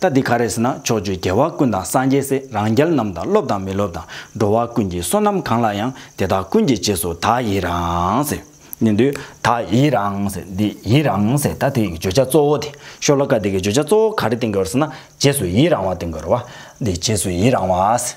རྟ་འདི་ག་རེ་ཟེར་ན་ཕྱོགས་བཅུའི་རྒྱལ་བ་ཀུན་དང་སངས་རྒྱས་སྲས་རང་རྒྱལ་རྣམས་དང་སློབ་དང་མི་སློབ་དང་འགྲོ་བ་ཀུན་གྱི་བསོད་ནམས་གང་ལགས་ཡང་དེ་དག་ཀུན་གྱི་རྗེས་སུ་དག་ཡིད་རང་ཟེར། ནི་འདུལ། དག་ཡིད་རང་ཟེར་འདི་ཡིད་རང་ཟེར་ད་དེ་ཡི་བརྗོད་བྱ་གཙོ་བོ་དེ་ཤོ་ལོ་ཀ་དེ་གི་བརྗོད་བྱ་གཙོ་བོ་ག་རེ་བསྟན་དགོས་ཟེར་ན་རྗེས་སུ་ཡིད་རང་བ་བསྟན་དགོས་ར་བ། འདི་རྗེས་སུ་ཡིད་རང་བ།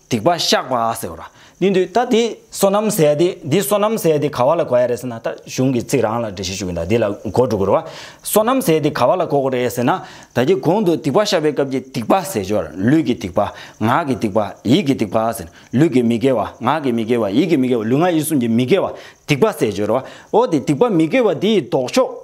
སྡིག་པ་བཤགས་པ་ཟེར་རོ། ནུས་མཐུ་ད་འདི་སོ་ནམ་ཟས་དེ་འདི་སོ་ནམ་ཟས་དེ་ག་བ་ལ་གོ་ཡ་རེད་ཟེར་ན་ད་གཞུང་གི་ཚིག་རང་ལ་འགྲེལ་བཤད་ཞུ་གི་འདུག་འདི་ལ་གོ་འགྲོ་དགོས་རེད་བ། སོ་ནམ་ཟས་དེ་ག་བ་ལ་གོ་དགོས་རེད་ཟེར་ན། ད་ཀྱི་གོང་དུ་སྡིག་པ་བཤགས་པའི་སྐབས་ཀྱི་སྡིག་པ་ཟས་སྦྱོར་ལུས་ཀྱི་སྡིག་པ། ངག་གི་སྡིག་པ། ཡིད་ཀྱི་སྡིག་པ་ཟེར། ལུས་ཀྱི་མི་དགེ་བ། ངག་གི་མི་དགེ་བ། ཡིད་ཀྱི་མི་དགེ་བ། ལུས་ངག་ཡིད་གསུམ་གྱི་མི་དགེ་བ་སྡིག་པ་ཟས་སྦྱོར་རེད་བ། འོ་དེ་སྡིག་པ་མི་དགེ་བ་དེ་ཡི་ལྡོག་ཕྱོགས།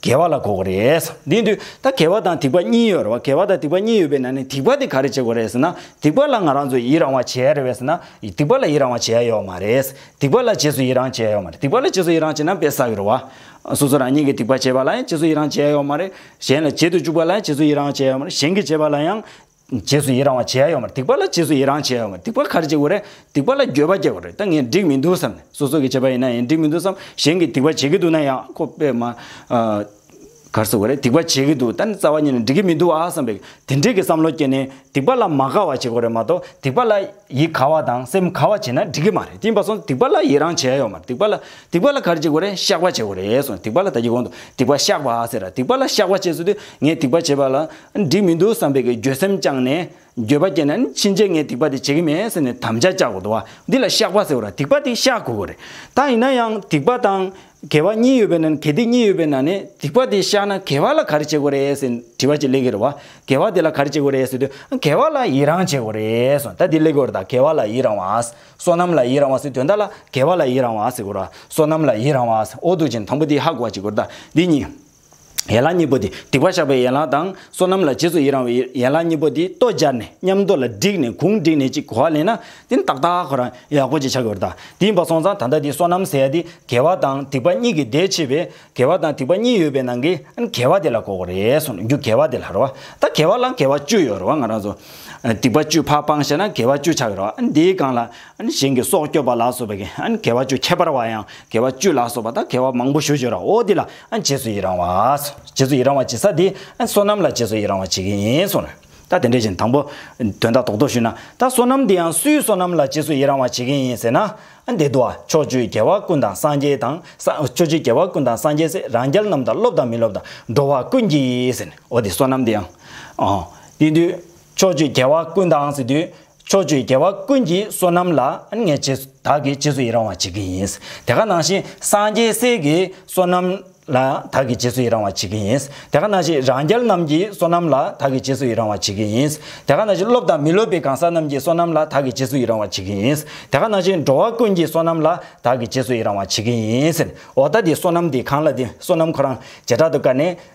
དགེ་བ་ལ་གོ་གོ་རེད། དེའི་དུས་ད་དགེ་བ་དང་སྡིག་པ་གཉིས་ཡོད་རེད་བ་དགེ་བ་དང་སྡིག་པ་གཉིས་ཡོད་པའི་ནང་ནས་སྡིག་པ་དེ་ག་རེ་བྱེད་དགོས་རེད་ཟེར་ན་སྡིག་པ་ལ་ང་རང་ཚོ་ཡི་རང་བ་བྱེད་ཡ་རེད་བས་ཟེར་ན་སྡིག་པ་ལ་ཡི་རང་བ་བྱེད་ཡ་ཡོད་མ་རེད། སྡིག་པ་ལ་རྗེས་སུ་ཡི་རང་བྱེད་ཡ་ཡོད་མ་རེད་སྡིག་པ་ལ་རྗེས་སུ་ཡི་རང་བྱེད་ན་བས་ས་ཡོད་རེད་བ། སོ་སོ་རང་ཉིད་ཀྱིས་སྡིག་པ་བྱེད་པ་ལ་ཡང་རྗེས་སུ་ཡི་རང་བྱེད་ཡ་ཡོད་མ་རེད། གཞན་ལ་བྱེད་དུ་བཅུག་པ་ལ་ཡང་རྗེས་སུ་ཡི་རང་བྱེད་ཡ་ཡོད་མ་རེད་གཞན་གྱིས་བྱེད་པ་ལ་ཡང། རྗེས་སུ་ཡི་རང་བ་བྱེད་ཡ་ཡོང་བར་སྡིག་པ་ལ་རྗེས་སུ་ཡི་རང་བྱེད་ཡ་ཡོང་བར་སྡིག་པ་གར་བྱེད་དགོས་རེད་སྡིག་པ་ལ་འགྱོད་པ་སྐྱེ་དགོས་རེད་ད་ངས་འགྲིག་མི་འདུག་བསམ་ནས་སོ་སོ་གིས་བྱས་པ་ཡིན་ན་ཡང་འགྲིག་མི་འདུག་བསམ་གཞན་གྱིས་སྡིག་པ་བྱེད་ཀྱི་འདུག་ན་ཡང་ཁོ་པས་མ་གར་བཟོ་དགོས་རེད་སྡིག་པ་བྱེད་ཀྱི་འདུག་ད་ནི་རྩ་བ་ཉིད་ནས་འགྲིག་གི་མི་འདུག་ཨ་བསམ་པས་དེ་འདྲའི་གི་བསམ་བློ་སྐྱེས་ནས་སྡིག་པ་ལ་མ་གར་བ་བྱེད་དགོས་རེད་མ་གཏོགས་སྡིག་པ་ལ་ཡིད་གར་བ་དང་སེམས་གར་བ་བྱེད་ན་འགྲིག་གི་མ་རེད་གྱིས་པ་སོང་སྡིག་པ་ལ་ཡི་རང་བྱེད་ཡ་ཡོང་བར་སྡིག་པ་ལ་སྡིག་པ་ལ་གར་བྱེད་དགོས་རེད་བཤགས་པ་བྱེད་དགོས་རེད་སོང་སྡིག་པ་ལ་ད་ཀྱི་གོང་དུ་སྡིག་པ་བཤགས་པ་ཟེར་ར་སྡིག་པ་ལ་བཤགས་པ་བྱེད་ཟེར་དུས་ངས་སྡིག་པ་བྱས་པ་ལ། འགྲིག་མི་འདུག་བསམ་པའི་གི་འགྱོད་སེམས་བཅངས་ནས། འགྱོད་པ་སྐྱེས་ན་ནི་ཕྱིན་ཆད་ངས་སྡིག་པ་དེ་བྱེད་གི་མེད་ཟེར་ནས་དམ་བཅའ་བཅའ་དགོས་འདུག་འདི་ལ་བཤགས་པ་ཟེར་བ་ར་སྡིག་པ་དེ་བཤགས་དགོས་གི་རེད། ད་ཡིན་ན་ཡང་སྡིག་པ་དང། དགེ་བ་གཉིས་ཡོད་པའི་ནང་ནས་གལ་ཏེ་གཉིས་ཡོད་པའི་ནང་ནས་སྡིག་པ་དེ་བཤགས་ན་དགེ་བ་ལ་ག་རེ་བྱེད་དགོས་རེད་ཟེར་དྲི་བ་ཅིག་གླེང་གི་རེད་བ། དགེ་བ་དེ་ལ་ག་རེ་བྱེད་དགོས་རེད་ཟེར་དུས་དགེ་བ་ལ་ཡི་རང་བྱེད་དགོས་རེད་སོང་ད་འདི་གླེང་དགོས་རེད་ད་དགེ་བ་ལ་ཡི་རང་བ། བསོད་ནམས་ལ་ཡི་རང་བ་ཟེར་དུས་ད་ལ་དགེ་བ་ལ་ཡི་རང་བ་ཟེར་དགོས་ར་བསོད་ནམས་ལ་ཡི་རང་བ། ཨོ་དུག་ཅན་དང་པོ་དེ་ཧ་གོ་བ་བྱེད་དགོས་རེད་ད་འདི་གཉིས། ཡན་ལག་གཉིས་པོ་དེ་སྡིག་པ་བཤགས་པའི་ཡན་ལག་དང་བསོད་ནམས་ལ་རྗེས་སུ་ཡི་རང་བའི་ཡན་ལག་གཉིས་པོ་དེ་ལྟོ་སྦྱར་ནས་མཉམ་རྡོ་ལ་བསྒྲིགས་ནས་གུང་བསྒྲིགས་ནས་ཅིག་གོ་བ་ལེན་ན་དེ་ནི་ཏག་ཏག་ཁོ་རང་ཡག་པོ་ཅིག་ཆགས་ཀྱི་རེད་ད་དེ་ཡིན་པ་སོང་ཙང་ད་ལྟ་དེ་བསོད་ནམས་ཟེར་ཡ་དེ་དགེ་བ་དང་སྡིག་པ་གཉིས་ཀྱི་ཟླས་ཕྱེས་པས་དགེ་བ་དང་སྡིག་པ་གཉིས་ཡོད་པའི་ནང་གི་ཨ་ནི་དགེ་བ་དེ་ལ་གོ་གི་རེད་སོང་རྒྱུ་དགེ་བ་དེ་ལ་རེད་བ་ད་དགེ་བ་ལ་དགེ་བ་བཅུ་ཡོད་རེད་བ་ང་རང་ཚོ་སྡིག་པ་བཅུ་ཕ་སྤང་བྱས་ན་དགེ་བ་བཅུ་ཆགས་ཀྱི་རེད་བ་ཨ་ནི་དེའི་སྒང་ལ་ཨ་ནི་གཞན་གྱི་སྲོག་སྐྱོབ་པ་ལ་སོགས་པའི་གི་ཨ་ནི་དགེ་བ་བཅུ་ཁྱད་པར་བ་ཡང་དགེ་བ་བཅུ་ལ་སོགས་པ་ད་དགེ་བ་མང་པོ་ཞུ་ཞུ་ར་འོ་དེ་ལ་རྗེས་སུ་ཡི་རང་བ། རྗེས་སུ་ཡི་རང་བ་བྱེད་ས་དེ། བསོད་ནམས་ལ་རྗེས་སུ་ཡི་རང་བ་བྱེད་ཀྱི་ཡིན་གསུངས་ལ། ད་དེ་འདྲ་བཞིན་དང་པོ། དོན་དག་རྡོག་རྡོག་ཞུས་ན། ད་བསོད་ནམས་དེ་ཡང་སུའི་བསོད་ནམས་ལ་རྗེས་སུ་ཡི་རང་བ་བྱེད་ཀྱི་ཡིན་ཟེར་ན། འདི་དུ་བ། ཕྱོགས་བཅུའི་རྒྱལ་བ་ཀུན་དང་སངས་རྒྱས་དང། ཕྱོགས་བཅུའི་རྒྱལ་བ་ཀུན་དང་སངས་རྒྱས་སྲས་རང་རྒྱལ་རྣམས་དང་སློབ་དང་མི་སློབ་དང་འགྲོ་བ་ཀུན་གྱི་ཟེར་ནས་འོ་དེ་བསོད་ནམས་དེ་ཡང། འོ། དེ་དུས། ཕྱོགས་བཅུའི་རྒྱལ་བ་ཀུན་དང་ཟེར་དུས། ཕྱོགས་བཅུའི་རྒྱལ་བ་ཀུན་གྱི་བསོད་ནམས་ལ་ངས་རྗེས་སུ་བདག་གིས་རྗེས་སུ་ཡི་རང་བ་བྱེད་ཀྱི་ཡིན། དེ་ག་ནང་བཞིན་སངས་རྒྱས་སྲས་ཀྱི་བསོད་ནམས་ལ་བདག་གིས་རྗེས་སུ་ཡི་རང་བ་བྱེད་ཀྱི་ཡིན། དེ་ག་ནང་བཞིན་རང་རྒྱལ་རྣམས་ཀྱི་བསོད་ནམས་ལ་བདག་གིས་རྗེས་སུ་ཡི་རང་བ་བྱེད་ཀྱི་ཡིན། དེ་ག་ནང་བཞིན་སློབ་དང་མི་སློབ་པའི་གང་ཟག་རྣམས་ཀྱི་བསོད་ནམས་ལ་བདག་གིས་རྗེས་སུ་ཡི་རང་བ་བྱེད་ཀྱི་ཡིན། དེ་ག་ནང་བཞིན་འགྲོ་བ་ཀུན་གྱི་བསོད་ནམས་ལ་བདག་གིས་རྗེས་སུ་ཡི་རང་བ་བྱེད་ཀྱི་ཡིན། འོ་ད་དེ་བསོད་ནམས་དེ་གང་ལ་དེ་བསོད་ནམས་ཁོ་རང་བྱེ་བྲག་ཏུ་བཀར་ནས།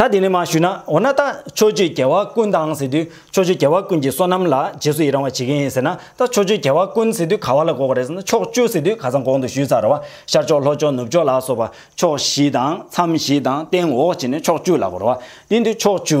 ད་དེ་ནས་མ་ཞུས་ན་འོ་ན་ད་ཕྱོགས་བཅུའི་རྒྱལ་བ་ཀུན་དང་ཟེར་དུས་ཕྱོགས་བཅུའི་རྒྱལ་བ་ཀུན་གྱི་བསོད་ནམས་ལ་རྗེས་སུ་ཡི་རང་བ་བྱེད་ཀྱི་ཡིན་ཟེར་ན་ད་ཕྱོགས་བཅུའི་རྒྱལ་བ་ཀུན་ཟེར་དུས་ག་བ་ལ་འགོག་པ་རེད་ཟེར་ན་ཕྱོགས་བཅུ་ཟེར་དུས་ག་ཚང་གོང་དུ་ཞུས་ཚར་རེད་བ་ཤར་ཕྱོགས་ལྷོ་ཕྱོགས་ནུབ་ཕྱོགས་ལ་སོགས་པ་ཕྱོགས་བཞི་དང་མཚམས་བཞི་དང་སྟེང་འོག་བྱས་ནས་ཕྱོགས་བཅུ་ལ་གོ་རེད་བ་དེ་འདུག་ཕྱོགས་བཅུ་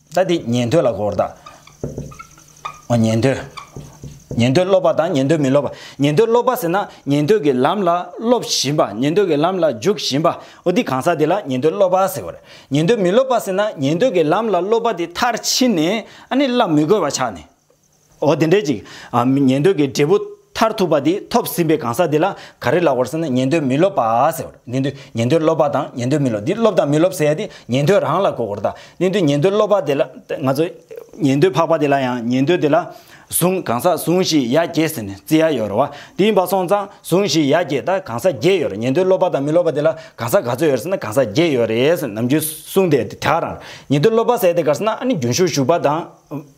ད་དེ་ཉན་ཐོས་ལ་གོ་བར་བལྟ། ཉན་ཐོས། ཉན་ཐོས་སློབ་པ་དང་ཉན་ཐོས་མི་སློབ་པ། ཉན་ཐོས་སློབ་པ་ཟེར་ན་ཉན་ཐོས་ཀྱི་ལམ་ལ་སློབ་བཞིན་པ་ཉན་ཐོས་ཀྱི་ལམ་ལ་འཇུག་བཞིན་པ་འོ་དེ་གང་ཟག་དེ་ལ་ཉན་ཐོས་སློབ་པ་ཟེར་བར། ཉན་ཐོས་མི་སློབ་པ་ཟེར་ན་ཉན་ཐོས་ཀྱི་ལམ་ལ་སློབ་པ་དེ་མཐར་ཕྱིན་ནས་ནི་སླབ་མི་དགོས་པ་ཆགས་ནས། འོ་དེ་འདྲས་ཅིག། ཉན་ཐོས་ཀྱི་འབྲས་བུ་མཐར་ཐུག་པ་དེ་ཐོབ་ཟིན་པའི་གང་ཟག་དེ་ལ་ག་རེ་ལབ་བར་ཟེར་ན་ཉན་ཐོས་མི་སློབ་པ་ཟེར་བར། ནི་འདི་ཉན་ཐོས་སློབ་པ་དང་ཉན་ཐོས་མི་སློབ་འདི་སློབ་དང་མི་སློབ་ཟེར་ཡ་དེ་ཉན་ཐོས་རང་ལ་གོ་བར་གདའ། ནི་འདི་ཉན་ཐོས་སློབ་པ་དེ་ལ་ང་ཚོ། ཉན་ཐོས་འཕགས་པ་དེ་ལ་ཡང་ཉན་ཐོས་དེ་ལ། གཟུངས་གང་ཟག་གཟུངས་བཞིས་ཡ་བརྒྱད་ཟེར་ནས་བརྩི་ཡ་ཡོད་རེད་བ། དེ་ཡིན་པ་སོང་ཙང་གཟུངས་བཞིས་ཡ་བརྒྱད་ད་གང་ཟག་བརྒྱད་ཡོད་རེད་ཉན་ཐོས་སློབ་པ་དང་མི་སློབ་པ་དེ་ལ་གང་ཟག་ག་ཚོད་ཡོད་རེད་ཟེར་ན་གང་ཟག་བརྒྱད་ཡོད་རེད་ཟེར་ནམ་རྒྱུན་གསུངས་དེ་དེ་དག་རང་རེད། ཉན་ཐོས་སློབ་པ་ཟེར་དེ་གར་ཟེར་ན་ཨ་ནི་རྒྱུན་ཞུགས་ཞུགས་པ་དང།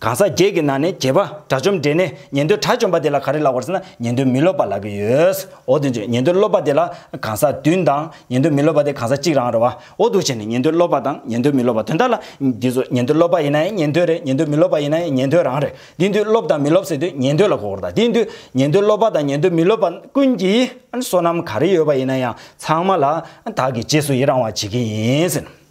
གང་ཟག་བརྒྱད་ཀྱི་ནང་ནས་བརྒྱད་པ་དགྲ་བཅོམ་འདྲེ་ནས་ཉན་ཐོས་དགྲ་བཅོམ་པ་དེ་ལ་ག་རེ་ལགས་པར་ཟེར་ན་ཉན་ཐོས་མི་སློབ་པ་ལགས་ཀྱི་ཡོད། འོ་དེ་ཚོས་ཉན་ཐོས་སློབ་པ་དེ་ལ་གང་ཟག་བདུན་དང་ཉན་ཐོས་མི་སློབ་པ་དེ་གང་ཟག་གཅིག་རང་རེད་བ། འོ་དུ་བྱས་ནས་ཉན་ཐོས་སློབ་པ་དང་ཉན་ཐོས་མི་སློབ་པ་དོན་དག་ལ། འདི་ཚོ་ཉན་ཐོས་སློབ་པ་ཡིན་ན་ཡང་ཉན་ཐོས་རེད་ཉན་ཐོས་མི་སློབ་པ་ཡིན་ན་ཡང་ཉན་ཐོས་རང་རེད། དེ་དུས་སློབ་དང་མི་སློབ་ཟེར་དུས་ཉན་ཐོས་ལ་གོ་བར་དང་དེ་དུས་ཉན་ཐོས་སློབ་པ་དང་ཉན་ཐོས་མི་སློབ་པ་ཀུན་གྱིས་བསོད་ནམས་ག་རེ་ཡོད་པ་ཡིན་ན་ཡང་ཚང་མ་ལ་དག་གིས་རྗེས་སུ་ཡི་རང་བ་བྱེད་ཀྱི་ཡིན།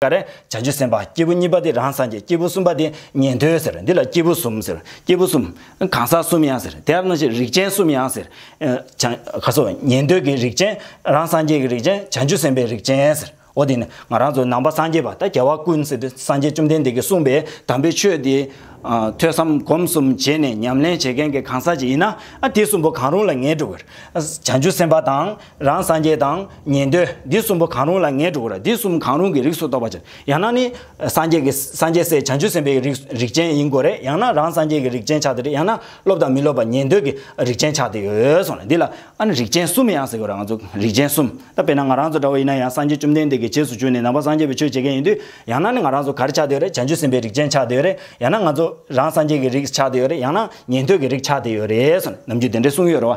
ཀ་རེ། བྱང་ཆུབ་སེམས་དཔའ་སྐྱེས་བུ་གཉིས་པ་དེ་རང་སངས་རྒྱས་སྐྱེས་བུ་གསུམ་པ་དེ་ཉན་ཐོས་ཟེར་འདི་ལ་སྐྱེས་བུ་གསུམ་ཟེར་སྐྱེས་བུ་གསུམ། གང་ཟག་གསུམ་ཡང་ཟེར་དེ་ཡང་ན་ཞེ་རིགས་ཅན་གསུམ་ཡང་ཟེར། བྱང། ཁ་སོ། ཉན་ཐོས་ཀྱི་རིགས་ཅན། རང་སངས་རྒྱས་ཀྱི་རིགས་ཅན་བྱང་ཆུབ་སེམས་དཔའི་རིགས་ཅན་ཟེར། འོ་དེ་ནས་ང་རང་ཚོ་ནང་པ་སངས་རྒྱས་པ་ད་རྒྱལ་བ་ཀུན་གཟིགས་དེ་སངས་རྒྱས་བཅོམ་ལྡན་འདས་ཀྱིས་གསུངས་པའི་དམ་པའི་ཆོས་དེ། ཐོས་བསམ་སྒོམ་གསུམ་བྱས་ནས་ཉམས་ལེན་བྱེད་མཁན་གྱི་གང་ཟག་ཅིག་ཡིན་ན། དེ་གསུམ་པོ་གང་རུང་ལ་ངེས་འགྲོ་གི་རེད། བྱང་ཆུབ་སེམས་དཔའ་དང། རང་སངས་རྒྱས་དང། ཉན་ཐོས། འདི་གསུམ་པོ་གང་རུང་ལ་ངས་དྲུག་གོ་ར་འདི་གསུམ་གང་རུང་གི་རིགས་སུ་གཏོགས་པ་ཅན་ཡང་ན་ནི། སངས་རྒྱས་ཀྱི་སངས་རྒྱས་སྲས་བྱང་ཆུབ་སེམས་དཔའི་ཡི་རིགས་རིགས་ཅན་ཡིན་དགོས་རེད་ཡང་ན་རང་སངས་རྒྱས་ཀྱི་རིགས་ཅན་ཆགས་དེ་རེད་ཡང་ན་སློབ་དང་མི་སློབ་པ་ཉན་ཐོས་ཀྱི་རིགས་ཅན་ཆགས་དེ་ཡོད་སོང་ལ་འདི་ལ་ཨ་ནི་རིགས་ཅན་གསུམ་ཡང་ཟེར་དགོས་ར་ང་ཚོ་རིགས་ཅན་གསུམ་ད་དཔེར་ན་ང་རང་ཚོ་འདྲ་བོ་ཡིན་ན་ཡང་སངས་རྒྱས་བཅོམ་ལྡན་འདས་ཀྱི་རྗེས་སུ་བྱོན་ནས་ནང་པ་སངས་རྒྱས་པའི་ཆོས་བྱེད་མཁན་ཡིན་དུས་ཡང་ན་ནི་ང་རང་ཚོ་ག་རེ་ཆགས་དེ་ཡོད་རེད་བྱང་ཆུབ་སེམས་དཔའི་རིགས་ཅན་ཆགས་དེ་ཡོད་རེད་ཡང་ན་ང་ཚོ་རང་སངས་རྒྱས་ཀྱི་རིགས་ཆགས་དེ་ཡོད་རེད་ཡང་ན་ཉན་ཐོས་ཀྱི་རིགས་ཆགས་དེ་ཡོད་རེད་སོང་ནམ་རྒྱུན་དེ་འདྲའི་གསུངས་ཡོད་རེད་བ།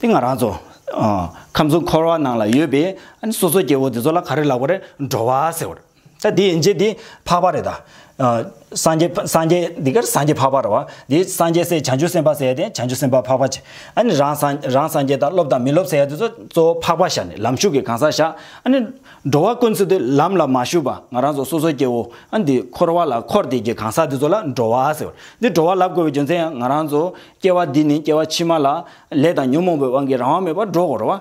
དེ་ང་རང་ཚོ། ཁམས་གསུམ་འཁོར་བ་ནང་ལ་ཡོད་པའི། སོ་སོ་སྐྱེ་བོ་དེ་ཚོ་ལ་ག་རེ་ལགས་པ་རེད་འགྲོ་བ་ཟེར་བ་རེད། ད་དེ་ཡན་ཆད་དེ་འཕགས་པ་རེད་ད། སངས་རྒྱས་སངས་རྒྱས་འདི་གར་སངས་རྒྱས་འཕགས་པ་རེད་བ། དེ་སངས་རྒྱས་སྲས་བྱང་ཆུབ་སེམས་དཔའ་ཟེར་དེ་བྱང་ཆུབ་སེམས་དཔའ་འཕགས་པ་བྱས། ཨ་ནི་རང་སངས་རང་སངས་རྒྱས་དང་སློབ་དང་མི་སློབ་ཟེར་ཡ་དེ་ཚོ་གཙོ་བོ་འཕགས་པ་ཞག་ནས་ལམ་ཞུགས་ཀྱི་གང་ཟག་བཞག། ཨ་ནི། འགྲོ་བ་ཀུན་ཚོ་དེ་ལམ་ལ་མ་ཞུགས་པ་ང་རང་ཚོ་སོ་སོ་སྐྱེ་བོ་ཨ་འདི་འཁོར་བ་ལ་འཁོར་དེ་ཀྱི་གང་ཟག་དེ་ཚོ་ལ་འགྲོ་བ་ཟེར་བ་རེད། འདི་འགྲོ་བ་ལབ་དགོས་པའི་རྒྱུ་མཚན་ཡང་ང་རང་ཚོ། སྐྱེ་བ་འདི་ནི་སྐྱེ་བ་ཕྱི་མ་ལ། ལས་དང་ཉོན་མོངས་པའི་དབང་གིས་རང་དབང་མེད་པར་འགྲོ་བར་བ།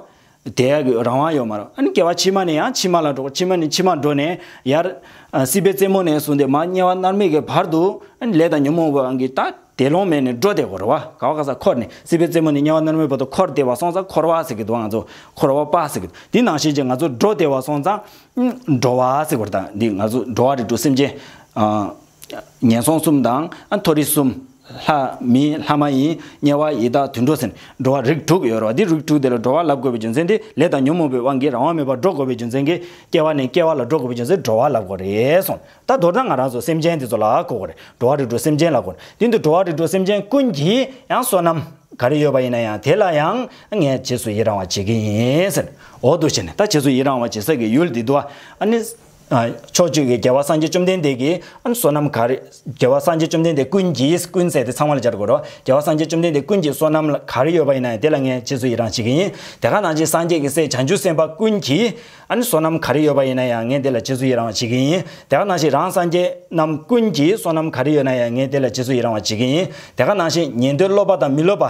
དེ་ཡར་གྱི་རང་དབང་ཡོད་མ་རུང། སྐྱེ་བ་ཕྱི་མ་ནས་ཡང་ཕྱི་མ་ལ་འགྲོ་བར་ཕྱི་མ་ནས་ཕྱི་མར་འགྲོ་ནས། ཡར། སྲིད་པའི་རྩེ་མོ་ནས་བཟུང་སྟེ་མར་དམྱལ་བ་མནར་མེད་ཀྱི་བར་དུ། ལས་དང་ཉོན་མོངས་པའི་དབང་གིས་ད། དེ་ལོང་མེད་ནས་འགྲོ་བདེ་བར་བ། ག་བ་ག་ས་འཁོར་ནས་སྲིད་པའི་རྩེ་མོ་ནས་དམྱལ་བ་མནར་མེད་བར་དུ་འཁོར་བདེ་བ་སོང་ཙང་འཁོར་བ་ཟེར་གྱི་འདུག་ང་ཚོ། འཁོར་བ་པ་ཟེར་གྱི་འདུག་དེ་ནང་བཞིན་གྱི་ང་ཚོ་འགྲོ་བདེ་བ་སོང་ཙང། འགྲོ་བ་ཟེར་བར་དང་འདི་ང་ཚོ་འགྲོ་བ་རིགས་དྲུག་སེམས་ཅན། ངན་སོང་གསུམ་དང། མཐོ་རིས་གསུམ། ལྷ། མི། ལྷ་མ་ཡིན། དམྱལ་བ། ཡི་དྭགས་དུད་འགྲོ་ཟིན། འགྲོ་བ་རིགས་དྲུག་ཡོད་རོ། འདི་རིགས་དྲུག་དེ་ལ་འགྲོ་བ་ལ་དགོས་པའི་རྒྱུ་མཚན་དེ་ལས་དང་ཉོན་མོངས་པའི་དབང་གིས་རང་དབང་མེད་པར་འགྲོ་དགོས་པའི་རྒྱུ་མཚན་གྱིས་སྐྱེ་བ་ནས་སྐྱེ་བ་ལ་འགྲོ་དགོས་པའི་རྒྱུ་མཚན་འགྲོ་བ་ལ་གོ་རེ་སོང་ད་དོར་ན་ང་རང་ཚོ་སེམས་ཅན་དེ་ཚོ་ལ་གོ་གོ་རེ་འགྲོ་བ་རིགས་དྲུག་སེམས་ཅན་ལ་གོ་དེ་འདུག་འགྲོ་བ་རིགས་དྲུག་སེམས་ཅན་ཀུན་གྱིས་ཡང་བསོད་ནམས་ག་རེ་ཡོད་པ་ཡིན་ན་ཡང་དེ་ལ་ཡང་ངས་རྗེས་སུ་ཡི་རང་བ་བྱེད་ཀྱི་ཡིན། ཟེར། འོ་དོ་བྱས་ནས་ད་རྗེས་སུ་ཡི་རང་བ་བྱེད་ས་ཀྱི་ཡུལ་འདི་དུ་ཨ་ནི། ཕྱོགས་བཅུ་གྱི་རྒྱལ་བ་སངས་རྒྱས་བཅོམ་ལྡན་འདས་ཀྱི། བསོད་ནམས་ག་རེ། རྒྱལ་བ་སངས་རྒྱས་བཅོམ་ལྡན་འདས་ཀུན་གྱིས་ཀུན་བསལ་ཏེ་ཚང་བ་ལ་སྦྱར་དགོས་རོ། རྒྱལ་བ་སངས་རྒྱས་བཅོམ་ལྡན་འདས་ཀུན་གྱི་བསོད་ནམས་ལ་ག་རེ་ཡོད་པ་ཡིན་ན་ཡང་དེ་ལ་ངས་རྗེས་སུ་ཡི་རང་བྱེད་ཀྱི་ཡིན། དེ་ག་ནང་བཞིན་སངས་རྒྱས་ཀྱི་སྲས་བྱང་ཆུབ་སེམས་དཔའ་ཀུན་གྱིས། བསོད་ནམས་ག་རེ་ཡོད་པ་ཡིན་ན་ཡང་ངས་དེ་ལ་རྗེས་སུ་ཡི་རང་བ་བྱེད་ཀྱི་ཡིན། དེ་ག་ནང་བཞིན་རང་སངས་རྒྱས་རྣམས་ཀུན་གྱིས་བསོད་ནམས་ག་རེ་ཡོད་ན་ཡང་ངས་དེ་ལ་རྗེས་སུ་ཡི་རང་བ་བྱེད་ཀྱི་ཡིན། དེ་ག་ནང་བཞིན་ཉན་ཐོས་སློབ་པ་དང་མི་སློབ་པ།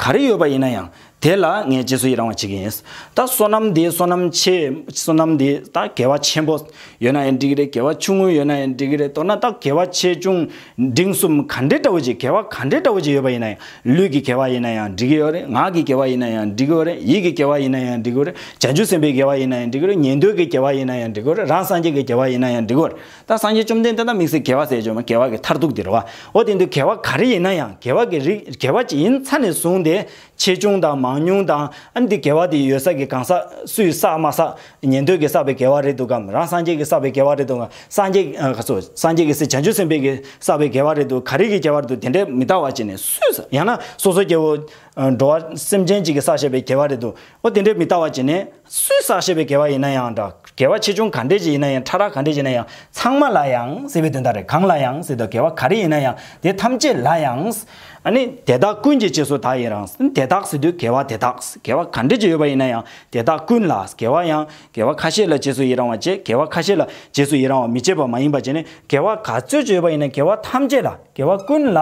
ག་རེ་ཡོད་པ་ཡིན་ན་ཡང་དེ་ལ་ངས་རྗེས་སུ་ཡི་རང་བ་བྱེད་ཀྱི་ཡིན། ད་བསོད་ནམས་འདི་བསོད་ནམས་ཆེ། བསོད་ནམས་འདི་ད་དགེ་བ་ཆེན་པོ་ཡོད་ན་ཡང་འགྲིག་གི་རེད་དགེ་བ་ཆུང་ངུ་ཡོད་ན་ཡང་འགྲིག་གི་རེད་མདོར་ན་ད་དགེ་བ་ཆེ་ཆུང་འབྲིང་གསུམ་ག་འདྲེ་འདྲ་བོ་ཅིག་དགེ་བ་ག་འདྲེ་འདྲ་བོ་ཅིག་ཡོད་པ་ཡིན་ན་ཡང་ལུས་ཀྱི་དགེ་བ་ཡིན་ན་ཡང་འགྲིག་གི་ཡོད་རེད་ངག་གི་དགེ་བ་ཡིན་ན་ཡང་འགྲིག་གི་ཡོད་རེད་ཡིད་ཀྱི་དགེ་བ་ཡིན་ན་ཡང་འགྲིག་གི་ཡོད་རེད་བྱང་ཆུབ་སེམས་དཔའི་དགེ་བ་ཡིན་ན་ཡང་འགྲིག་གི་རེད་ཉན་ཐོས་ཀྱི་དགེ་བ་ཡིན་ན་ཡང་འགྲིག་གི་རེད་རང་སངས་རྒྱས་ཀྱི་དགེ་བ་ཡིན་ན་ཡང་འགྲིག་གི་རེད། ད་སངས་རྒྱས་བཅོམ་ལྡན་འདས་ད་དམིགས་བསལ་དགེ་བ་ཟས་སྤྱོད་མ་དགེ་བ་གི་མཐར་ཐུག་འདི་རུ་བའོ། དེ་འདུལ་དགེ་བ་ག་རེ་ཡིན་ན་ཡང་དགེ་བ་གི་རིགས་དགེ་བ་ཇི་ཡིན་མཚན་ནས་བཟུང་སྟེ། ཆེ་ཆུང་དང་མང་ཉུང་དང། ཨ་ནི་འདི་དགེ་བ་དེ་ཡོད་ས་ཀྱི་གང་ཟག་སུས་བསགས་མ་བསགས། ཉན་ཐོས་ཀྱིས་བསགས་པའི་དགེ་བ་རེད་འདུག་གམ་རང་སངས་རྒྱས་ཀྱིས་བསགས་པའི་དགེ་བ་རེད་འདུག་གམ་སངས་རྒྱས། ག་ཚོད། སངས་རྒྱས་ཀྱི་སྲས་བྱང་ཆུབ་སེམས་དཔས་ཀྱིས་བསགས་པའི་དགེ་བ་རེད་འདུག་ག་རེ་གིས་ཁྱད་པར་འདུག་དེ་འདྲའི་མི་ལྟ་བ་བྱས་ནས་སུས་བསགས་ཡང་ན་སོ་སོའི་སྐྱེ་བོ། འགྲོ་བ་སེམས་ཅན་གཅིག་གིས་བསགས་བྱས་པའི་དགེ་བ་རེད་འདུག་གོ་དེ་འདྲའི་མི་ལྟ་བ་བྱས་ནས། སུས་བསགས་ཞེས་པའི་དགེ་བ་ཡིན་ན་ཡང་འདྲ། དགེ་བ་ཆེ་ཆུང་ག་འདྲས་ཀྱི་ཡིན་ན་ཡང་ཕྲ་རགས་ག་འདྲས་ཀྱི་ཡིན་ན་ཡང་ཚང་མ་ལ་ཡང་སྲིད་པའི་དོན་དག་རེད་གང་ལ་ཡང་སྲིད་དོ་དགེ་བ་ག་རེ་ཡིན་ན་ཡང་དེ་ཐམས་ཅད་ལ་ཡང། ནི། དེ་དག་ཀུན་གྱི་རྗེས་སུ་ད་ཡིན་རང། དེ་དག་སྲིད་དུས་དགེ་བ་དེ་དག། དགེ་བ་ག་འདྲས་ཀྱི་ཡོད་པ་ཡིན་ན་ཡང་དེ་དག་ཀུན་ལ་དགེ་བ་ཡང། དགེ་བ་ཁ་ཤས་ལ་རྗེས་སུ་ཡི་རང་བ་བཅས་དགེ་བ་ཁ་ཤས་ལ་རྗེས་སུ་ཡི་རང་བ་མི་བཅས་པ་མ་ཡིན་པ་བཅས་ནི་དགེ་བ་ག་ཚོད་ཀྱི་ཡོད་པ་ཡིན་ན་དགེ་བ་ཐམས་ཅད་ལ་དགེ་བ་ཀུན་ལ།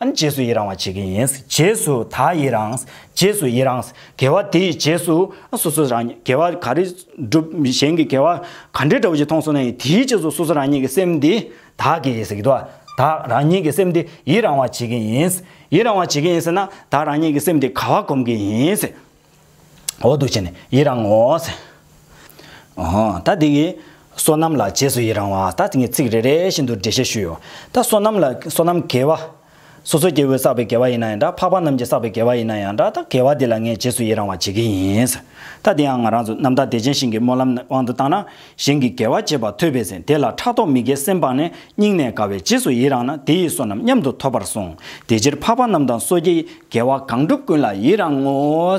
རྗེས་སུ་ཡི་རང་བ་བྱེད་ཀྱི་ཡིན། རྗེས་སུ་ད་ཡི་རང། རྗེས་སུ་ཡི་རང། དགེ་བ་དེའི་རྗེས་སུ་སོ་སོ་རང་ཉིད་དགེ་བ་ག་རེ་བསྒྲུབ་གཞན་གྱི་དགེ་བ་ག་འདྲའི་དྲག་པོ་ཞིག་མཐོང་སོང་ན་ཡང་དེའི་རྗེས་སུ་སོ་སོ་རང་ཉིད་ཀྱི་སེམས་འདི་དག་གི་ཟེར་གྱི་འདུག་དག་རང་ཉིད་ཀྱི་སེམས་འདི་ཡིད་རང་བར་བྱེད་ཀྱི་ཡིན། ཡིད་རང་བར་བྱེད་ཀྱི་ཡིན་ཟེར་ན་དག་རང་ཉིད་ཀྱི་སེམས་འདི་ག་བ་གོམས་ཀྱི་ཡིན། འོ་འདུག་བྱས་ནས་ཡིད་རང་ངོ། ད་འདི་གི་སོ་ནམ་ལ་རྗེས་སུ་ཡིད་རང་བ་ད་ངས་ཚིག་རེ་རེ་བཞིན་དུ་འགྲེལ་བཤད་ཞུས་ཡོད། ད་སོ་ནམ་ལ་སོ་ནམ་དགེ་བ། སོ་སོའི་སྐྱེ་བོས་བསགས་པའི་དགེ་བ་ཡིན་ན་ཡང་འདྲ་འཕགས་པ་རྣམས་ཀྱིས་བསགས་པའི་དགེ་བ་ཡིན་ན་ཡང་འདྲ་ད་དགེ་བ་དེ་ལ་ངས་རྗེས་སུ་ཡི་རང་བར་བྱེད་ཀྱི་ཡིན། ད་དེའང་ང་རང་ཚོ་རྣམ་དག་བདེ་ཆེན་ཞིང་གི་སྨོན་ལམ་དབང་དུ་བཏང་ན། གཞན་གྱི་དགེ་བ་བྱེད་པ་ཐོས་པས་ཟིན་དེ་ལ་ཕྲག་དོག་མི་དགེ་སེམས་སྤངས་ནས་སྙིང་ནས་དགའ་བས་རྗེས་སུ་ཡི་རང་ན་དེ་ཡིས་བསོད་ནམས་མཉམ་དུ་ཐོབ་པར་གསུངས། དེ་ཕྱིར་འཕགས་པ་རྣམས་དང་སོ་སྐྱེའི་དགེ་བ་གང་འགྲུབ་ཀུན་ལ་ཡི་རང་ངོ།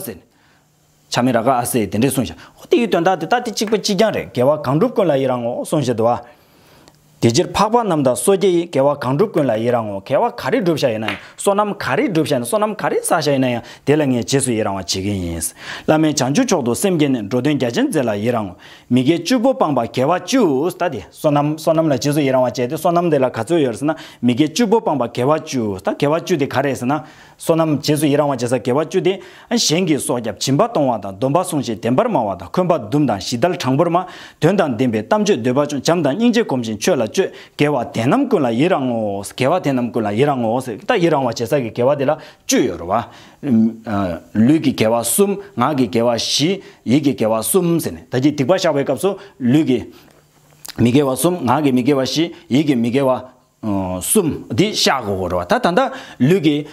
བྱ་མི་ར་ག་ཨ་སེས་དེ་འདྲས་གསུངས་ཤིང། ཨོ་དེའི་དོན་དག་དེ་ལྟ་སྟེ་གཅིག་པ་གཅིག་རྐྱང་རེད་དགེ་བ་གང་བསྒྲུབ་ཀུན་ལ་ཡི་རང་ངོ་གསུངས་ཞེས་དུ་བ། དེ་ཕྱིར་འཕགས་པ་རྣམས་དང་སོ་སྐྱེ་ཡིས་དགེ་བ་གང་བསྒྲུབ་ཀུན་ལ་ཡི་རང་ངོ་དགེ་བ་ག་རེ་བསྒྲུབ་བྱ་ཡིན་ན་ཡང་བསོད་ནམས་ག་རེ་བསྒྲུབ་བྱ་ཡིན་ན་བསོད་ནམས་ག་རེ་བསགས་བྱ་ཡིན་ན་ཡང་དེ་ལ་ངས་རྗེས་སུ་ཡི་རང་བ་བྱེད་ཀྱིན་ཡིན། བླ་མེད་བྱང་ཆུབ་མཆོག་ཏུ་སེམས་བསྐྱེད་ནས་འགྲོ་དོན་རྒྱ་ཆེན་མཛད་ལ་ཡི་རང་ངོ། མི་དགེ་བཅུ་པོ་སྤངས་པ་དགེ་བ་བཅུས་ད་དེ་བསོད་ནམས་བསོད་ནམས་ལ་རྗེས་སུ་ཡི་རང་བ་བྱས་ཏེ་བསོད་ནམས་དེ་ལ་ག་ཚོད་ཡོད་ཟེར་ན་མི་དགེ་བཅུ་པོ་སྤངས་པ་དགེ་བ་བཅུ་ད་དགེ་བ་བཅུ་དེ་ག་རེད་ཟེར་ན། བསོད་ནམས་རྗེས་སུ་ཡི་རང་བ་བྱེད་ས་དགེ་བ་བཅུ་སྟེ། གཞན་གྱི་སྲོག་སྐྱབས་སྦྱིན་པ་གཏོང་བ་དང་སྡོམ་པ་སྲུང་ཞིང་བདེན་པར་སྨྲ་བ་དང་འཁོན་པ་འདུམ་དང་ཞི་དལ་དྲང་པོར་སྨྲ། དོན་དང་ལྡན་པའི་གཏམ་བརྗོད་འདོད་པ་ཅུང་བྱམས་དང་སྙིང་རྗེ་གོམས་ཤིང་ཆོས་ལ་སྤྱོད། དགེ་བ་དེ་རྣམས་ཀུན་ལ་ཡི་རང་ངོ། དགེ་བ་དེ་རྣམས་ཀུན་ལ་ཡི་རང་ངོ། ད་ཡི་རང་བ་བྱེད་ས་ཀྱི་དགེ་བ་དེ་ལ་བཅུ་ཡོད་རོ། བ། ལུས་ཀྱི་དགེ་བ་གསུམ། ངག་གི་དགེ་བ་བཞི། ཡིད་ཀྱི་དགེ་བ་གསུམ། ད་ཀྱི་སྡིག་པ་བཤགས་པའི་སྐབས་སུ། ལུས་ཀྱི། མི་དགེ་བ་གསུམ། ངག་གི་མི་དགེ་བ་བཞི། ཡིད་ཀྱི་མི་དགེ་བ། གསུམ། འདི་ཤཱ་གོ་བོར་རོ། ད་ད་ལྟ་ལུས་ཀྱི་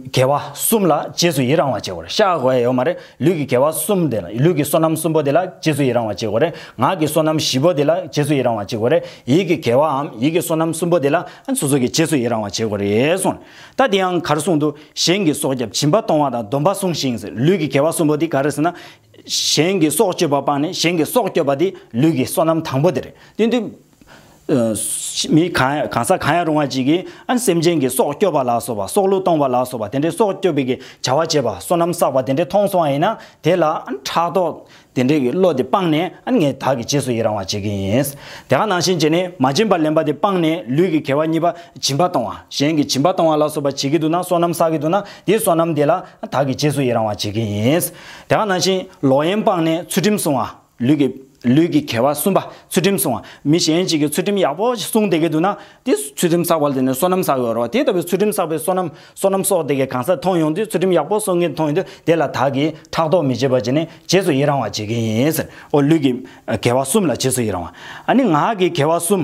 དགེ་བ་གསུམ་ལ་རྗེས་སུ་ཡི་རང་བ་སྐྱེ་གོ་རེ་ཤཱ་གོ་བས་ཡོད་མ་རེད་ལུས་ཀྱི་དགེ་བ་གསུམ་དེ་ལ་ལུས་ཀྱི་བསོད་ནམས་གསུམ་པོ་དེ་ལ་རྗེས་སུ་ཡི་རང་བ་སྐྱེ་གོ་རེ་ངག་གི་བསོད་ནམས་བཞི་པོ་དེ་ལ་རྗེས་སུ་ཡི་རང་བ་སྐྱེ་གོ་རེ་ཡིད་ཀྱི་དགེ་བའམ་ཡིད་ཀྱི་བསོད་ནམས་གསུམ་པོ་དེ་ལ་སོ་སོ་གི་རྗེས་སུ་ཡི་རང་བ་སྐྱེ་གོ་རེ་གསུངས་ད་འདི་ཡང་གར་གསུངས་འདུག་གཞན་གྱི་སྲོག་སྐྱབས་བྱིན་པ་གཏོང་བ་དང་སྡོམ་པ་བསྲུང་ཞིང་ཟེར་ལུས་ཀྱི་དགེ་བ་གསུམ་པོ་འདི་ག་རེ་ཟེར་ན། གཞན་གྱི་སྲོག་གཅོད་པ་སྤངས་ནས་གཞན་གྱི་སྲོག་སྐྱོབ་པ་འདི་ལུས་ཀྱི་བསོད་ནམས་དང་པོ་དེ་རེད་དེ་འདི། མི་གང་ཟག་གང་ཡང་རུང་བ་ཅིག་གིས་ཨན་སེམས་ཅན་གྱི་སྲོག་སྐྱོབ་པ་ལ་སོགས་པ་སྲོག་བླུ་གཏོང་བ་ལ་སོགས་པ་དེ་འདྲའི་སྲོག་སྐྱོབ་པའི་གི་བྱ་བ་བྱེད་པ་སོ་ནམ་བསགས་པ་དེ་འདྲའི་མཐོང་སོང་བ་ཡིན་ན་དེ་ལ་ཨན་ཕྲག་དོག་དེ་འདྲའི་གི་བློ་དེ་སྤངས་ནས་ཨན་ངས་བདག་གི་རྗེས་སུ་ཡི་རང་བ་བྱེད་གི་ཡིན། དེ་ག་ནང་བཞིན་བྱས་ནས་མ་བྱིན་པར་ལེན་པ་དེ་སྤངས་ནས་ལུས་ཀྱི་གལ་བ་གཉིས་པ་བྱིན་པ་གཏོང་བ་གཞན་གྱི་བྱིན་པ་གཏོང་བ་ལ་སོགས་པ་བྱེད་ཀྱི་འདུག་ན་སོ་ནམ་བསགས་ཀྱི་འདུག་ན་དེའི་སོ་ནམ་དེ་ལ་ཨན་བདག་གི་རྗེས་སུ་ཡི་རང་བ་བྱེད་གི་ཡིན། དེ་ག་ནང་བཞིན་ལོག་གཡེམ་སྤངས་ནས་ཚུལ་ཁྲིམས་སྲུང་བ། ལུས་ཀྱི། ལུས་ཀྱི་གལ་བ་གསུམ་པ་ཚུལ་ཁྲིམས་བསྲུང་བ། མི་གཞན་ཞིག་གིས་ཚུལ་ཁྲིམས་ཡག་པོ་ཞིག་བསྲུང་བསྡད་ཀྱི་འདུག་ན། དེ་ཚུལ་ཁྲིམས་བསགས་པ་དེ་ནི་བསོད་ནམས་བསགས་ཡོད་རོགས། དེ་ལྟ་བུའི་ཚུལ་ཁྲིམས་བསགས་པའི་བསོད་ནམས། བསོད་ནམས་གསོག་བསྡད་མཁན་གང་སར་མཐོང་ཡོང་དུས་ཚུལ་ཁྲིམས་ཡག་པོ་བསྲུང་མཁན་མཐོང་ཡོང་དུས་དེ་ལ་དག་གིས་ཕྲག་དོག་མི་བྱེད་པར་བྱས་ནས་རྗེས་སུ་ཡི་རང་བ་བྱེད་ཀྱི་ཡིན། ཨོ། ལུས་ཀྱི། གལ་བ་གསུམ་ལ་རྗེས་སུ་ཡི་རང་བ། ཨ་ནི་ངག་གི་གལ་བ་གསུམ།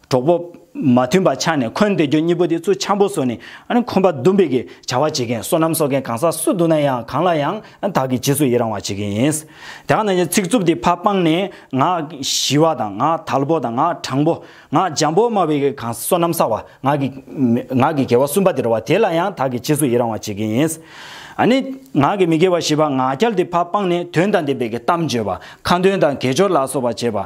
གྲོགས་པོ། མ་མཐུན་པ་ཆགས་ནས་འཁོན་འདེད་རྒྱུ་གཉིས་པོ་དེ་ཚུར་འཆམ་པོ་བཟོས་ནས་འཁོན་པ་རྡུང་བེད་ཀྱི་བྱ་བ་བྱེད་མཁན་སོ་ནམ་གསོག་མཁན་གང་ཟག་སུ་འདུག་ན་ཡང་གང་ལ་ཡང་དག་གིས་ཇི་སུ་ཡི་རང་བ་བྱེད་མཁན་ཡིན། དེ་ག་ནང་བཞིན་ཚིག་རྩུབ་དེ་ཕ་སྤངས་ནས་ང་ཞི་བ་དང་ང་དལ་པོ་དང་ང་དྲང་པོ་ང་འཇམ་པོ་སྨྲ་བའི་གང་ཟག་སོ་ནམ་གསག་བ་ང་གི་ང་གི་དགེ་བ་གསུམ་པ་དེ་རུ་བ་དེ་ལ་ཡང་དག་གིས་ཇི་སུ་ཡི་རང་བ་བྱེད་མཁན་ཡིན། ནི། ང་གི་མི་དགེ་བ་བཞི་པ་ང་རྒྱལ་དེ་ཕ་སྤངས་ནས་དོན་དང་ལྡན་པའི་གི་གཏམ་བརྗོད་པ་ཁ་འདོན་དང་གས་སྦྱོར་ལ་སོགས་པ་བྱེད་པ།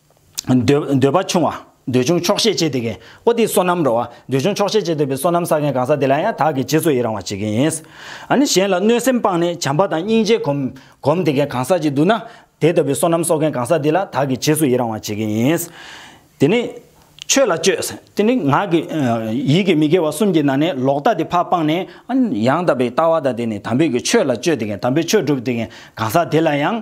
འདོད་པ་ཆུང་བ། འདོད་ཆུང་ཆོག་ཤེས་བྱེད་དེ་གའི་པོ་ཏི་བསོད་ནམས་རོ། འདོད་ཆུང་ཆོག་ཤེས་བྱེད་འདོད་པའི་བསོད་ནམས་བསགས་མཁན་གང་ཟག་དེ་ལ་ཡང་དག་གི་རྗེས་སུ་ཡི་རང་བར་བྱེད་མཁན་ཡིན། ནི་གཞན་ལ་གནོད་སེམས་སྤངས་ནས་བྱམས་པ་དང་སྙིང་རྗེ་གོམས་དེ་གའི་གང་ཟག་ཅིག་འདུག་ན། དེ་ལྟ་བུའི་བསོད་ནམས་གསོག་མཁན་གང་ཟག་དེ་ལ་དག་གི་རྗེས་སུ་ཡི་རང་བར་བྱེད་མཁན་ཡིན། དེ་ནི། ཆོས་ལ་སྤྱོད། དེ་ནི་ངག་གི། ཡིད་ཀྱི་མི་དགེ་བ་གསུམ་གྱི་ནང་ནས་ལོག་ལྟ་དེ་ཕ་སྤངས་ནས། ཡང་དག་པའི་ལྟ་བ་དང་དེ་ནི་དམ་པའི་གི་ཆོས་ལ་སྤྱོད་དེ་གའི་དམ་པའི་ཆོས་སྒྲུབ་དེ་གའི་གང་ཟག་དེ་ལ་ཡང།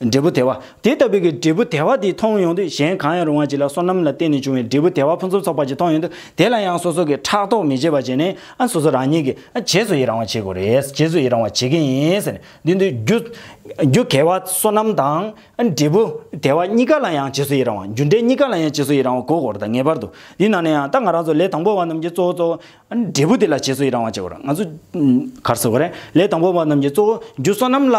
འབྲས་བུ་དལ་བ། དེ་ལྟ་བུའི་གྱི་འབྲས་བུ་དལ་བ་དེ་མཐོང་ཡོང་དུས་གཞན་གང་ཡང་རུང་བ་ཅིག་ལ་སོ་ནམ་ལ་བརྟེན་ནས་བྱུང་བའི་འབྲས་བུ་དལ་བ་ཕུན་སུམ་ཚོགས་པ་ཅིག་མཐོང་ཡོང་དུས་དེ་ལ་ཡང་སོ་སོ་གྱིས་ཕྲག་དོག་མི་བྱེད་པ་བྱས་ནས་ཨ་སོ་སོ་རང་ཉིད་ཀྱིས་བྱེས་སུ་ཡི་རང་བ་བྱེད་དགོས་རེད་བྱེས་སུ་ཡི་རང་བ་བྱེད་ཀྱི་ཡིན་ཟེར་ནས་འདི་འདུལ་རྒྱུ། རྒྱུ་གལ་བ་སོ་ནམ་དང་འབྲས་བུ་དལ་བ་གཉིས་ཀ་ལ་ཡང་བྱེས་སུ་ཡི་རང་བ་རྒྱུ་འབྲས་གཉིས་ཀ་ལ་ཡང་བྱེས་སུ་ཡི་རང་བ་གོ་དགོས་རེད་ད་ངེས་པར་དུ་འདི་ནང་ནས་ཡང་ད་ང་རང་ཚོ་ལས་དང་པོ་བ་རྣམས་ཀྱིས་གཙོ་བོ་གཙོ་བོ་འབྲས་བུ་དེ་ལ་བྱེས་སུ་ཡི་རང་བ་བྱེད་དགོས་རེད་ང་ཚོ་གར་སོ་གོ་རེད་ལས་དང་པོ་བ་རྣམས་ཀྱིས་གཙོ་བོ་རྒྱུ་སོ་ནམ་ལ།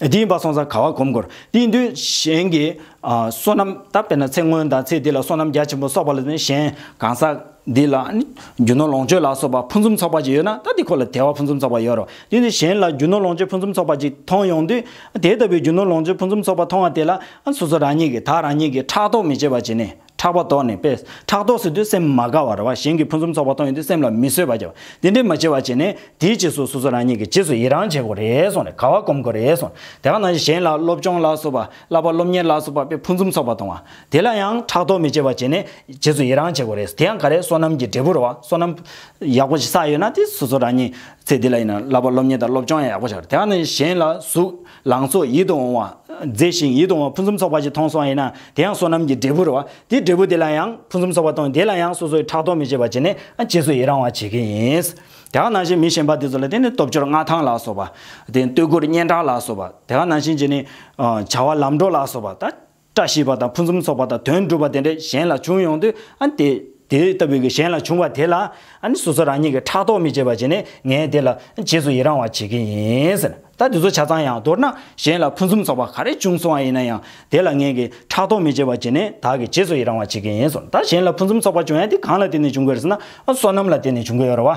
དེ་ཡིན་པ་སོང་ཙང་ག་བ་གོམས་དགོས། དེའི་དུས་གཞན་གྱི་བསོད་ནམས་ད་བས་ན་ཚེ་སྔོན་དང་ཚེ་འདི་ལ་བསོད་ནམས་རྒྱ་ཆེན་པོ་གསོག་པ་ལ་ནི་གཞན་གང་ཟག་འདི་ལ་ནི་རྒྱུ་ནོར་ལོངས་སྤྱོད་ལ་སོགས་པ་ཕུན་སུམ་ཚོགས་པ་ཅིག་ཡོད་ན་ད་དེ་ཁོ་ལ་དེ་བ་ཕུན་སུམ་ཚོགས་པ་ཡོད་རོ། དེ་ནི་གཞན་ལ་རྒྱུ་ནོར་ལོངས་སྤྱོད་ཕུན་སུམ་ཚོགས་པ་ཅིག་མཐོང་ཡོང་དུས་དེ་ལྟ་བུའི་རྒྱུ་ནོར་ལོངས་སྤྱོད་ཕུན་སུམ་ཚོགས་པ་མཐོང་བ་དེ་ལ་སོ་སོ་རང་ཉིད་ཀྱིས་ད་རང་ཉིད་ཀྱིས་ཕྲག་དོག་མི་བྱེད་པ་བྱས་ནས་ཕྲག་པ་དོག་ནས་དཔེ། ཕྲག་དོག་སྲིད་དུ་སེམས་མ་དགའ་བར་བ་གཞན་གྱི་ཕུན་སུམ་ཚོགས་པ་མཐོང་ཡོང་དུས་སེམས་ལ་མི་བཟོད་པ་སྐྱེ་བ། དེ་འདྲའི་མ་སྐྱེ་བ་བྱས་ནས། དེའི་རྗེས་སུ་སོ་སོ་རང་ཉིད་ཀྱི་རྗེས་སུ་ཡི་རང་བྱེད་དགོས་རེ་སོང་ནས་དགའ་བ་སྒོམ་དགོས་རེ་སོང། དེ་ག་ནང་བཞིན་གཞན་ལ་སློབ་སྦྱོང་ལ་སོགས་པ། བསླབ་པ་སློབ་གཉེར་ལ་སོགས་པ་དཔེ་ཕུན་སུམ་ཚོགས་པ་གཏོང་བ། དེ་ལ་ཡང་ཕྲག་དོག་མི་སྐྱེ་བ་བྱས་ནས། རྗེས་སུ་ཡི་རང་བྱེད་དགོས་རེ་སོང་དེ་ཡང་ག་རེ་བསོད་ནམས་ཀྱི་འབྲས་བུ་རེད་བ། བསོད་ནམས། ཡག་པོ་ཞིག་བསགས་ཡོད་ན་དེ་སོ་སོ་རང་ཉིད། ཚེ་འདི་ལ་ཡིན་ན་བསླབ་པ་སློབ་གཉེར་དང་སློབ་སྦྱོང་ཡང་ཡག་པོ་བྱ་དགོས་དེ་ག་ནང་བཞིན་གཞན་ལ་གཟུགས། ལང་ཚོ་ཡིད་དུ་འོང་བ། མཛེས་ཤིང་ཡིད་དུ་འོང་བ་ཕུན་སུམ་ཚོགས་པ་ཞིག་མཐོང་སོང་ཡིན་ན་དེ་ཡང་བསོད་ནམས་ཀྱི་འབྲས་བུར་རོ། དེས་འབྲས་བུ་དེ་ལ་ཡང་ཕུན་སུམ་ཚོགས་པ་གཏོང་དེ་ལ་ཡང་སོ་སོའི་ཕྲག་དོག་མི་བྱེད་པར་བྱས་ནས་རྗེས་སུ་ཡི་རང་བར་བྱེད་ཀྱི་ཡིན། དེ་ཁ་ནང་བཞིན་མི་གཞན་པ་དེ་ཚོ་ལ་དེ་ནི་སྟོབས་འབྱོར་མངའ་ཐང་ལ་སོགས་པ། དེ་ནི་སྟོད་གུར་སྙན་གྲགས་ལ་སོགས་པ། དེ་ཁ་ནང་བཞིན་བྱས་ནས། བྱ་བ་ལམ་འགྲོ་ལ་སོགས་པ། བཀྲ་ཤིས་པ་དང་ཕུན་སུམ་ཚོགས་པ་དང་དོན་འགྲུབ་པ་དེ་འདྲ་གཞན་ལ་བྱུང་ཡོང་དུས་དེ་དེ་ལྟ་བུའི་གཞན་ལ་བྱུང་བ་དེ་ལ་སོ་སོ་རང་ཉིད་ཀྱིས་ཕྲག་དོག་མི་བྱེད་པ་བྱས་ནས་ངས་དེ་ལ་རྗེས་སུ་ཡི་རང་བ་བྱེད་ཀྱི་ཡིན་ཟེར། ད་དེ་ཚོ་ཆ་ཚང་ཡང་མདོར་ན་གཞན་ལ་ཕུན་སུམ་ཚོགས་པ་ག་རེ་བྱུང་སོང་བ་ཡིན་ན་ཡང་དེ་ལ་ངེད་ཀྱིས་ཕྲག་དོག་མི་བྱེད་པ་བྱས་ནས་བདག་གིས་རྗེས་སུ་ཡི་རང་བ་བྱེད་ཀྱི་ཡིན་ཟེར། ད་གཞན་ལ་ཕུན་སུམ་ཚོགས་པ་བྱུང་ཡང་དེ་གང་ལ་བརྟེན་ནས་བྱུང་གི་རེད་ཟེར་ན་བསོད་ནམས་ལ་བརྟེན་ནས་བྱུང་གི་ཡོད་རེད་བ།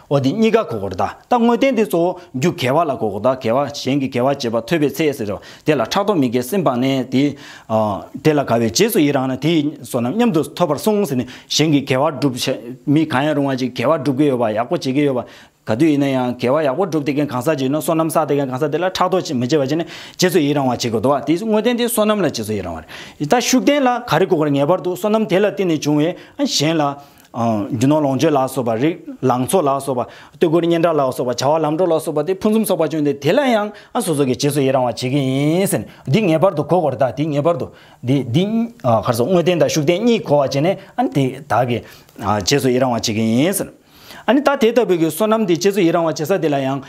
འོ་དེ་གཉིས་ཀ་གོ་དགོས་རེད་ད་ལྟ་དངོས་བསྟན་དེ་གཙོ་བོ་རྒྱུ་དགེ་བ་ལ་གོ་དགོས་ད་དགེ་བ་གཞན་གྱི་དགེ་བ་བྱེད་པ་ཐོས་པའི་ཚེ་ཟེར་རོ་དེ་ལ་ཕྲག་དོག་མི་དགེ་སེམས་སྤངས་ནས་དེ། དེ་ལ་དགའ་བའི་རྗེས་སུ་ཡི་རང་ན་དེ་བསོད་ནམས་མཉམ་དུ་ཐོབ་པར་གསུངས་ཟེར་ནས་གཞན་གྱི་དགེ་བ་བསྒྲུབ་བྱ་མི་གང་ཡང་རུང་བ་ཅིག་དགེ་བ་བསྒྲུབ་ཀྱི་ཡོད་པ་ཡག་པོ་བྱེད་ཀྱི་ཡོད་པ་ག་དུས་ཡིན་ན་ཡང་དགེ་བ་ཡག་པོ་བསྒྲུབ་དེ་གན་གང་ཟག་ཅིག་ཡིན་ན་བསོད་ནམས་བསགས་དེ་གན་གང་ཟག་དེ་ལ་ཕྲག་དོག་མི་བྱེད་པ་བྱས་ནས་རྗེས་སུ་ཡི་རང་བ་བྱེད་དགོས་དོ་དེ་དངོས་བསྟན་དེ་བསོད་ནམས་ལ་རྗེས་སུ་ཡི་རང་བ་རེད་ད་ཤུགས་བསྟན་ལ་ག་རེ་གོ་དགོས་རེད་ངེས་པར་དུ་བསོད་ནམས་དེ་ལ་བརྟེན་ནས་བྱུང་བའི་གཞན་ལ་རྒྱུ་ནོར་ལོངས་སྤྱོད་ལ་སོགས་པ། རིགས་ལང་ཚོ་ལ་སོགས་པ། སྟོད་གོས་སྙན་གྲགས་ལ་སོགས་པ། བྱ་བ་ལམ་འགྲོ་ལ་སོགས་པ་སྟེ་ཕུན་སུམ་ཚོགས་པ་བྱུང་སྟེ་དེ་ལ་ཡང་སོ་སོ་གས་རྗེས་སུ་ཡི་རང་བར་བྱེད་ཀྱི་ཡིན་ཟེར། འདི་ངེས་པར་དུ་གོ་དགོས་རེད་ད་དེ་ངེས་པར་དུ། འདི་འདི། ཁར་སོང་དངོས་བསྟན་དང་ཤུགས་བསྟན་གཉིས་གོ་བར་བྱས་ནས་ཨ་ནི་དེ་དག་གི། རྗེས་སུ་ཡི་རང་བར་བྱེད་ཀྱི་ཡིན་ཟེར། ཨ་ནི་ད་དེ་ལྟ་བུའི་གི་བསོད་ནམས་དེ་རྗེས་སུ་ཡི་རང་བར་བྱེད་ས་དེ་ལ་ཡང།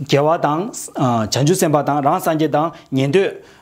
རྒྱལ་བ་དང། བྱང་ཆུབ་སེམས་དཔའ་དང་རང་སངས་རྒྱས་དང། ཉན་ཐོས།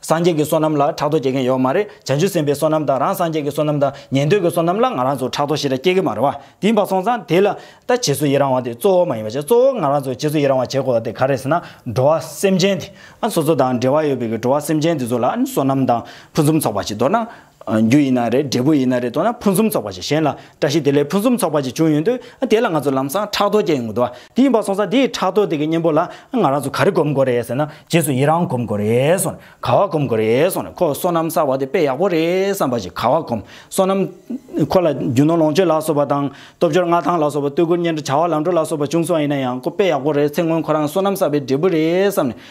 སངས་རྒྱས་ཀྱི་བསོད་ནམས་ལ་ཕྲག་དོག་སྐྱེ་མཁན་ཡོད་མ་རེད་བྱང་ཆུབ་སེམས་དཔའི་བསོད་ནམས་དང་རང་སངས་རྒྱས་ཀྱི་བསོད་ནམས་དང་ཉན་ཐོས་ཀྱི་བསོད་ནམས་ལ་ང་རང་ཚོ་ཕྲག་དོག་ཞི་ར་སྐྱེ་གི་མ་རེད་བ་དེ་འབའ་སོང་ཙང་དེ་ལ་ལྟ་བྱེད་སུ་ཡི་རང་བ་དེ་གཙོ་བོ་མ་ཡིན་བ་བྱས་གཙོ་བོ་ང་རང་ཚོ་བྱས་སུ་ཡི་རང་བ་བྱས་དགོས་བ་དེ་ག་རེད་ཟེར་ན་འགྲོ་བ་སེམས་ཅན་དེ་ཨ་སོ་སོ་དང་འབྲེལ་བ་ཡོད་པའི་གི་འགྲོ་བ་སེམས་ཅན་དེ་ཚོ་ལ་བསོད་ནམས་དང་ཕུན་སུམ་ཚོགས་པ་ཞིག་འདོར་ན་རྒྱུ་ཡིན་ན་རེད་འབྲས་བུ་ཡིན་ན་རེད་དོ་ན་ཕུན་སུམ་ཚོགས་པ་ཞིག་གཞན་ལ་བཀྲ་ཤིས་བདེ་ལེགས་ཕུན་སུམ་ཚོགས་པ་ཅིག་བྱུང་ཡོང་དུས་དེ་ལ་ང་ཚོ་ལམ་སང་ཕྲག་དོག་སྐྱེ་ཡོང་གི་འདུག་བ་དེ་ཡིན་པ་སོང་ཙང་དེའི་ཕྲག་དོག་དེ་གི་གཉེན་པོ་ལ་ང་རང་ཚོ་ག་རེ་གོམས་དགོས་རེད་ཟེར་ན་རྗེས་སུ་ཡི་རང་གོམས་དགོས་རེད་སོང་ནས་ག་བ་གོམས་དགོས་རེད་སོང་ནས་ཁོ་བསོད་ནམས་གསར་བ་དེ་དཔེ་ཡག་པོ་རེད་བསམ་པ་ཞིག་ག་བ་གོམས་བསོད་ནམས་ཁོ་ལ་རྒྱུ་ནོར་ལོངས་སྤྱོད་ལ་སོགས་པ་དང་སྟོབས་འབྱོར་མངའ་ཐང་ལ་སོགས་པ་བསྟོད་བཀུར་སྙན་གྲགས་བྱ་བ་ལམ་འགྲོ་ལ་སོགས་པ་བྱུང་སོང་ཡིན་ན་ཡང་ཁོ་དཔེ་ཡག་པོ་རེད་ཚེ་སྔོན་ཁོ་རང་བསོད་ནམས་གསར་བའི་འབྲས་བུ་རེད་བསམ་ནས